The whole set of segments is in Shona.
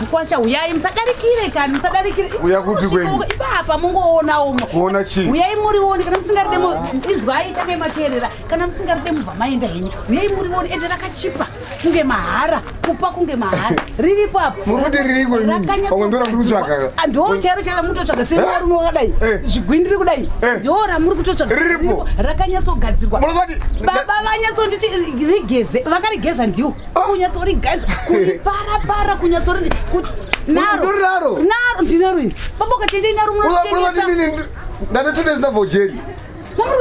Mkwasha huyai musadarikire kani musadarikire. Uya kupi kwenyu? Ipapa mungoona umwe. Kuona chi? Uyai muri woni kana musingaride mu inzwai take materera kana musingaride mubva maenda henyu. Uyai muri woni ende rakachipa kunge mahara kupa kunge mahara. Riri papa. Muri kuti riri kwenyu? Pamwe ndora muri kutsvaga. Ah, Ndo chero chero muri kutsvaga sei eh? muri wakadai. Eh. Zvigwindiri kudai. Eh. Ndo ra muri kutsvaga. Riripo. Rakanyatso gadzirwa. Muri kuti baba vanyatso nditi rigeze vakarigeza ndiwo. kunyatsori guys kuripara para kunyatsori kuti naro naro ndinaro ini baba ukatendei naro munotengesa ndane two days ndabva ujeri mamuri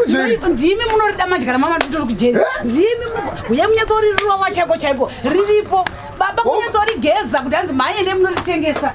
kujeri ndimi munorida madya ramama titori kujeri eh? ndimi uye munyatsorirurova chaiko chaiko riripo baba kunyatsori geza kuti hanzi mhanye nemunoritengesa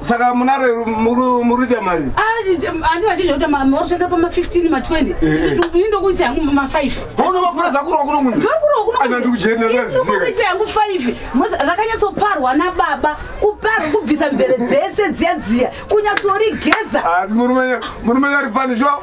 saka munaro muruita mari ati vachinja kuti marutenga pama 15 ma 20 ini ndokuita yangu ma 5 unovakuradza kurwa kuno kunzi ndokurwa kuno kunzi ndikuita yangu 5 rakanyatsoparwa nababa kuparwa kubvisa mvere dzese dziya dziya kunyatsorigeza asi murume murume yari fani sho